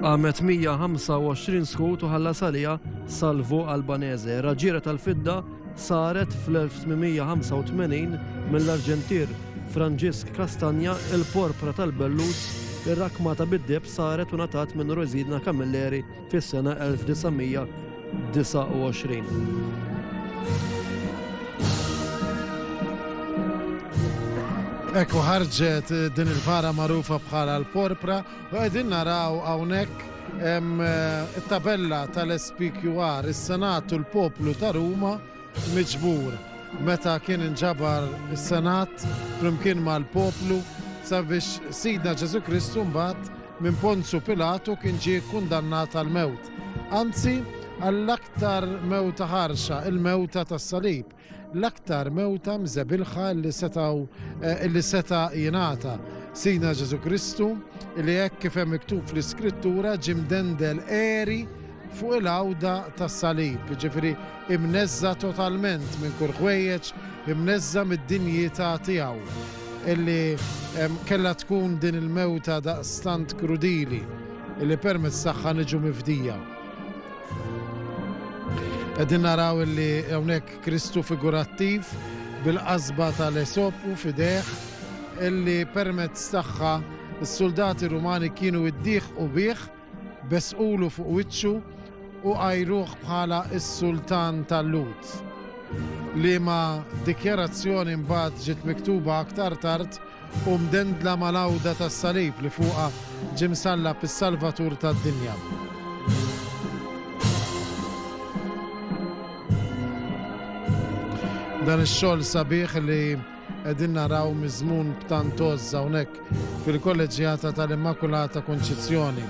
Qamet 125 skut u ħalla salija Salvo Albanese, raġiera tal-fidda saret fl-1885 mill-Arġentir Franġisk Kastanja il-porpra tal-Bellus ir-rakma ta' bid-deb saret u natat minn Rosidna Camilleri fis-sena 1929. Ekku ħarġet din il-vara magħrufa bħala l-porpra u qegħdin naraw hawnhekk eh, it-tabella tal-SPQR, is-Senat u l-Poplu ta' Ruma miġbur meta kien inġabar is-Senat flimkien mal-poplu sabiex Sidna Ġesu Kristu mbagħad minn Ponzju Pilatu kien ġie kkundannat għall-mewt, anzi għall-aktar mewta ħarxa, il-mewta tas-salib, l-aktar mewta mżebilħa li setgħu li seta' jingħata. Sidna Ġesù Kristu, li hekk kif hemm miktub fl-Iskrittura ġie mdendel għeri fuq il-għawda tas-salib, jiġifieri imneżża' totalment minn kull ħwejjeġ, imneżża' mid-dinjità tiegħu illi kellha tkun din il-mewta daqstant krudili illi permezz tagħha niġu mifdija. Qegħdin naraw illi hawnhekk Kristu figurattiv bil-qasba tal-esopu fideh illi permezz tagħha s-suldati Rumani kienu jddiħqu bih Besqulu fuq wiċċu u għajruh bħala s-Sultan tal-Lhud, liema dikjarazzjoni mbagħad ġiet miktuba aktar tard u mdendla mal-għawda tas-salib li fuqha ġie msallab is-Salvatur tad-dinja. dan ix-xogħol sabiħ li Qegħdin naraw miżmun b'tant għożż hawnhekk fil-Kolleġġjata tal-Immakulata Konċizzjoni.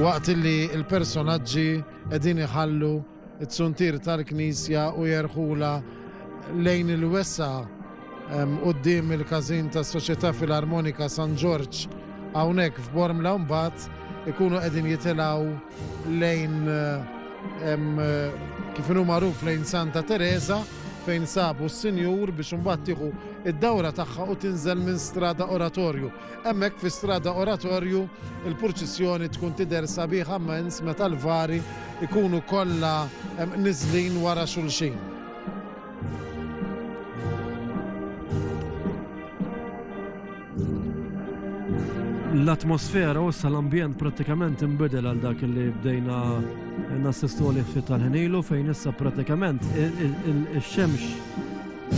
Waqt li l-personaġġi qegħdin iħallu t-suntir tal-Knisja u jerħula lejn il-wesa' Quddiem il-każin tas-Soċjetà Filarmonika San Ġorġ hawnhekk f'Bormla mbagħad ikunu qegħdin jitilgħu lejn kif inhu magħruf lejn Santa Teresa fejn sabu s-sinjur biex imbagħad tieħu id-dawra tagħha u tinżel minn strada oratorju. Hemmhekk fi strada oratorju il-purċissjoni tkun tidher sabiħa mens meta l-vari ikunu kollha niżlin wara xulxin. L-atmosfera u l-ambjent pratikament imbidel għal dak li bdejna nassistu li fit tal-ħenilu fejn issa pratikament il-xemx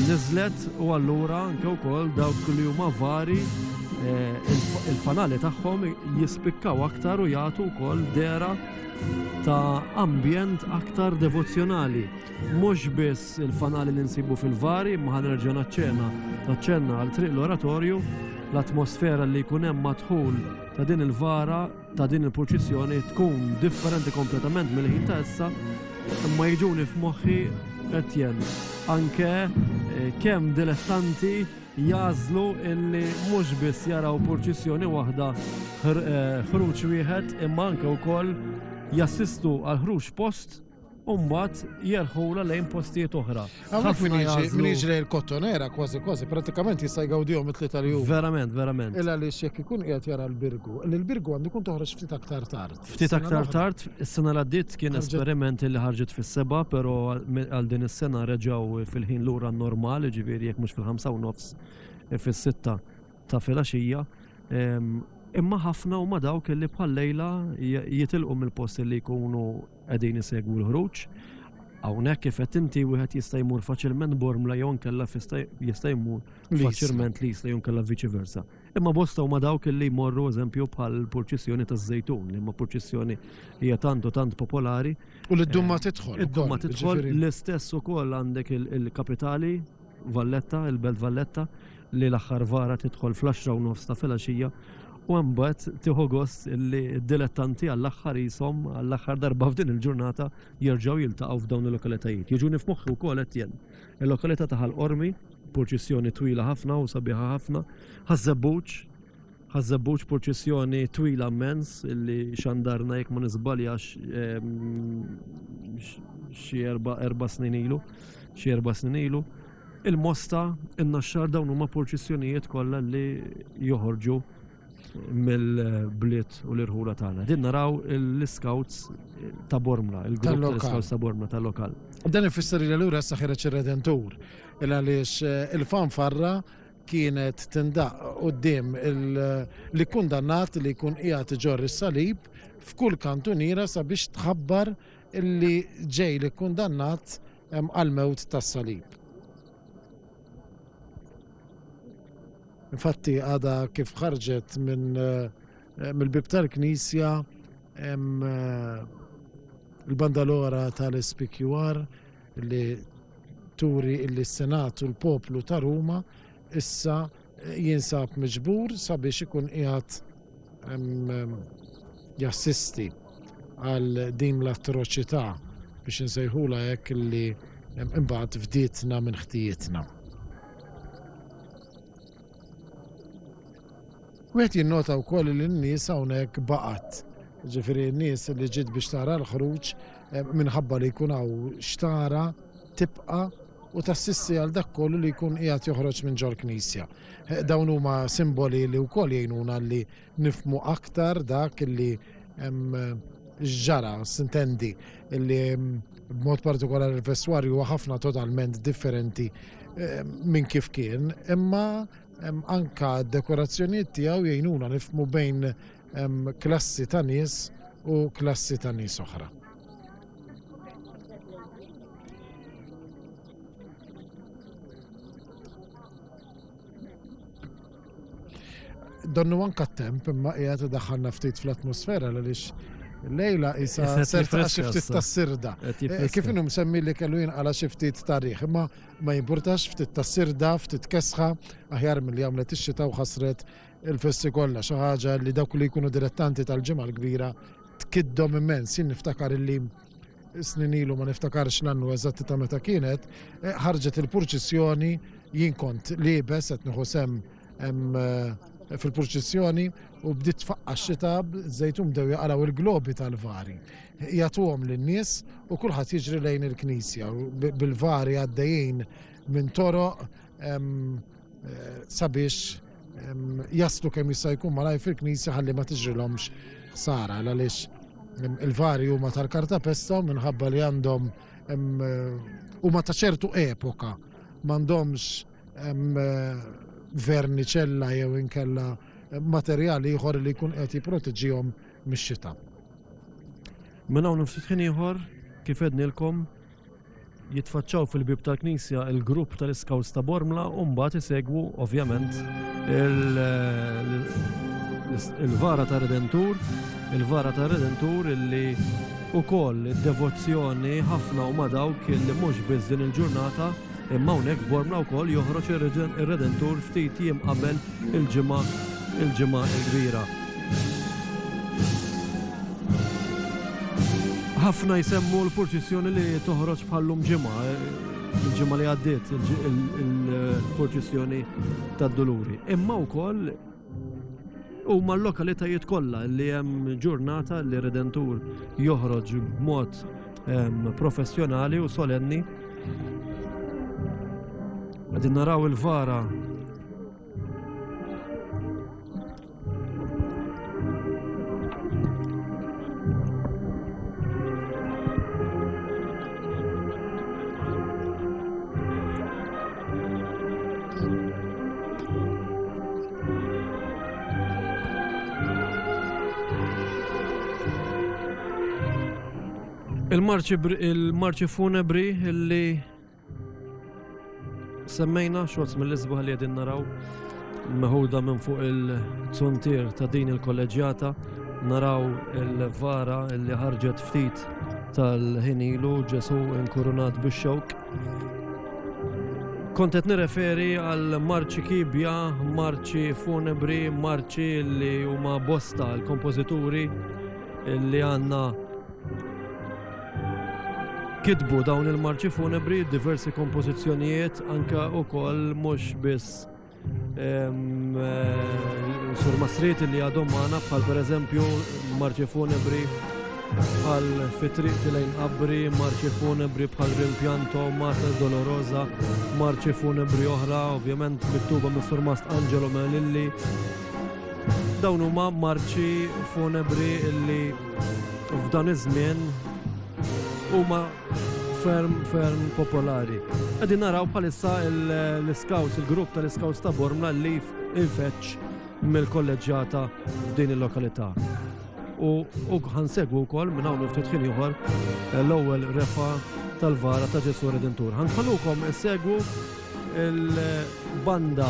nizlet u allura anke wkoll dawk li huma vari eh, il-fanali tagħhom jispikkaw aktar u jagħtu wkoll dera ta' ambjent aktar devozzjonali. Mhux biss il-fanali li nsibu fil-vari, imma ħa nerġa' naċċena naċċenna għal triq l-oratorju, l-atmosfera li jkun hemm madħul ta' din il-vara ta' din il-purċissjoni tkun differenti kompletament mill-ħin ta' issa, imma jiġuni f'moħħi Etienne. Anke eh, kemm dilettanti jażlu illi mhux biss jaraw purċissjoni waħda eh, ħruġ wieħed imma anke wkoll jassistu għal ħruġ post u mbagħad jerħula lejn postijiet oħra. Ħafna jażlu. Jiġri l-kottonera kważi kważi, pratikament jista' jgawdihom it-tlieta li huma. Verament, verament. Illa li jekk ikun qiegħed jara l-birgu, li l-birgu għandu jkun toħroġ ftit aktar tard. Ftit aktar tard, is-sena l għaddiet kien esperiment li ħarġet fis-seba, però għal din is-sena reġgħu fil-ħin lura normal, ġifieri jekk mhux fil-ħamsa u nofs e, fis-sitta ta' filgħaxija. Imma ħafna huma dawk li bħal lejla jitilqu mill-post li jkunu Qegħdin isegwu l-ħruġ. Hawnhekk kif qed inti wieħed jista' jmur faċilment bormla jew nkella jista' jmur faċilment li jista' jew nkella viċi versa. Imma bosta huma dawk li jmorru eżempju bħal purċissjoni taż-żejtun, li ma purċissjoni hija tant u tant popolari. U li d-dumma eh, tidħol. Id-dumma tidħol l-istess ukoll għandek il-kapitali Valletta, il-Belt Valletta, li l-aħħar vara tidħol fl-għaxra u nofs ta' filgħaxija u hemm mbagħad tieħu gost li d-dilettanti għall-aħħar ishom għall-aħħar darba f'din il-ġurnata jerġgħu jiltaqgħu f'dawn il-lokalitajiet. Jiġuni f'moħħi wkoll Etienne. Il-lokalità ta' Ħal Qormi, purċissjoni twila ħafna u sabiħa ħafna, Ħaż-Żebbuġ, Ħaż-Żebbuġ, purċissjoni twila mmens illi xandarna jekk ma niżbaljax xi erba' snin ilu, xi erba' snin ilu. Il-Mosta, in-Naxxar dawn huma purċissjonijiet kollha li joħorġu mill-bliet u l-irħula tagħna. Din naraw l-Iskawts ta' Bormla, il-grupp tal-Iskawts ta' Bormla tal-lokal. Dan ifisser li allura issa ħireġ ir-Redentur, il-għaliex eh, il-fanfarra kienet tindaqq quddiem l-ikkundannat li jkun qiegħed iġorr is-salib f'kull kantuniera sabiex tħabbar li ġej l-ikkundannat għall-mewt tas-salib. Infatti għada kif ħarġet minn eh, mill-bib tal-Knisja eh, l-bandalora tal-SPQR li turi illi s-Senat u l-poplu ta' Ruma issa jinsab miġbur sabiex ikun qiegħed jassisti għal din l-atroċità biex insejħula hekk illi imbagħad fdietna minn ħtijitna. Wieħed jinnota wkoll li n-nies hawnhekk baqgħet, jiġifieri n-nies li ġiet biex tara l-ħruġ minħabba li jkun hawn x'tara, tibqa' u tassisti għal dak kollu li jkun qiegħed joħroġ minn ġol-Knisja. Dawn huma simboli li wkoll jgħinuna li nifhmu aktar dak li ġara, sintendi li b'mod partikolari l-vestwarju huwa ħafna totalment differenti minn kif kien, imma Anke d-dekorazzjonijiet tiegħu jgħinuna nifhmu bejn klassi ta' nies u klassi ta' nies oħra. donnu anka temp imma qiegħed idaħħalna ftit fl-atmosfera għaliex lejla isa serta xiftit ta' sirda. Eh, kif inhom semmi li kellu jinqala xiftit tarih, imma Ma jimpurtax ftit ta' sirda, ftit kesħa, aħjar milli għamlet ix-xita u ħassret il-festi kollha, xi ħaġa li dawk li jkunu dilettanti tal-Ġimgħa l-Kbira tkiddhom immens. Jien niftakar illi snin ilu ma niftakarx l-annu eżatti ta' meta kienet, ħarġet il-purċissjoni, jien kont liebes qed nieħu sehem eh, fil-purċissjoni u bdiet tfaqqa xita żejtum dew jaqraw il-globi tal-vari. Jatuhom lin-nies u kulħadd jiġri lejn il-knisja bil-vari għaddejjin minn toroq eh, sabiex jaslu kemm jista' jkun malaj fil-knisja ħalli ma tiġrilhomx ħsara għaliex il-vari huma tal-karta pesta minħabba li għandhom eh, huma ta' ċertu epoka m'għandhomx verniċella jew inkella materjali ieħor li jkun qed jipproteġihom mix-xita. Minn hawn ftit ieħor kif ednilkom jitfaċċaw fil-bib tal-Knisja il-grupp tal-Iskawls ta' Bormla u mbagħad isegwu ovvjament il-vara ta' Redentur, il-vara ta' Redentur illi ukoll id-devozzjoni ħafna u ma' dawk illi mhux biss din il-ġurnata Imma hawnhekk f'Bormla wkoll joħroġ ir-Redentur ftit jiem qabel il-Ġimgħa il-Ġimgħa l-Kbira. Ħafna jsemmu l-purċissjoni li toħroġ bħallum ġimgħa, il-ġimgħa li għaddiet il-purċissjoni tad-Duluri. Imma wkoll Huma l-lokalitajiet kollha li hemm ġurnata li Redentur joħroġ b'mod ehm, professjonali u solenni. Għadin naraw il-vara Il-marċi funebri li semmejna xorz mill-isbaħ li għedin naraw meħuda minn fuq il-zuntir ta' din il-kolleġjata naraw il-vara li ħarġet ftit tal-ħinilu ġesu inkurunat bix-xewk Kont qed nirreferi għal marċi kibja, marċi funebri, marċi li huma bosta l-kompożituri li għandna kitbu dawn il-marċi funebri, diversi kompożizzjonijiet, anka wkoll mhux biss Sur Masrit li għadhom maħna bħal per eżempju marċi funebri bħal fitriq tilajn qabri, marċi funebri bħal rimpianto, Mata Dolorosa, marċi funebri oħra, ovvjament mittuba mis Sur Mast Angelo Melilli. Dawn huma marċi funebri illi f'dan iż-żmien huma ferm, ferm popolari. Għadin naraw bħalissa l-scouts, il-grupp tal-scouts ta' Bormla li infeċ mill-kolleġġata f'din il-lokalità. U ħansegwu wkoll minn hawn ftit ħin ieħor eh, l-ewwel refa tal-vara ta' Ġesu Redentur. Ħanħallukom segwu il-banda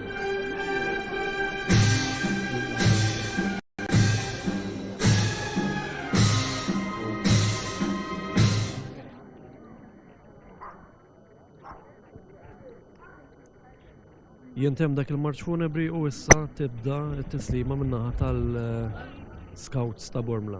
Jintem dak il-marċ funebri u issa tibda t-tislima minnaħa tal-scouts eh, ta' Bormla.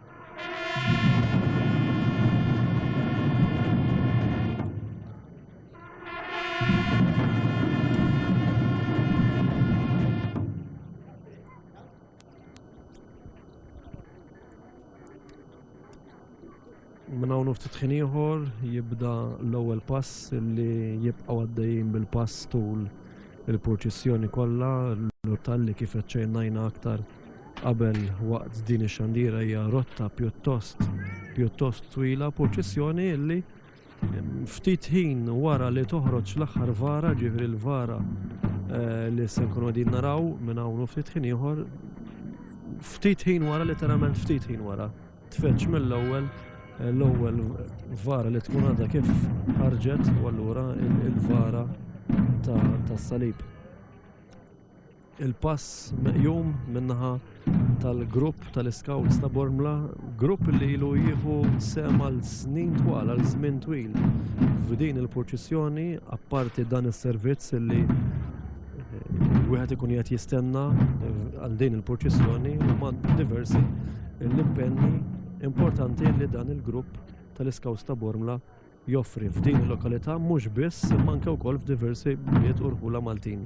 nagħmlu ftit ħin ieħor jibda l-ewwel pass li jibqgħu għaddejjin bil-pass tul il-purċissjoni kollha l-tal li kif ċejnajna aktar qabel waqt din ix-xandiera hija rotta pjuttost pjuttost twila, purċissjoni illi ftit ħin wara li toħroġ l-aħħar vara, ġifri l-vara eh, li se nkunu din naraw minn hawn ftit ħin ieħor, ftit ħin wara literalment ftit ħin wara. Tfeċ mill-ewwel eh, l-ewwel vara li tkun għadha kif ħarġet u allura il-vara tas-salib. Il-pass meqjum min-naħa tal-grupp tal-iskawts ta' Bormla, grupp li ilu jieħu sem għal snin twal, għal żmien twil. F'din il-purċissjoni, apparti dan is-servizz li eh, wieħed ikun qed jistenna eh, għal din il-purċissjoni huma diversi l-impenni importanti li dan il-grupp tal-iskawts ta' Bormla joffri f'din il-lokalità mhux biss imma anke wkoll f'diversi bliet u rħula Maltin.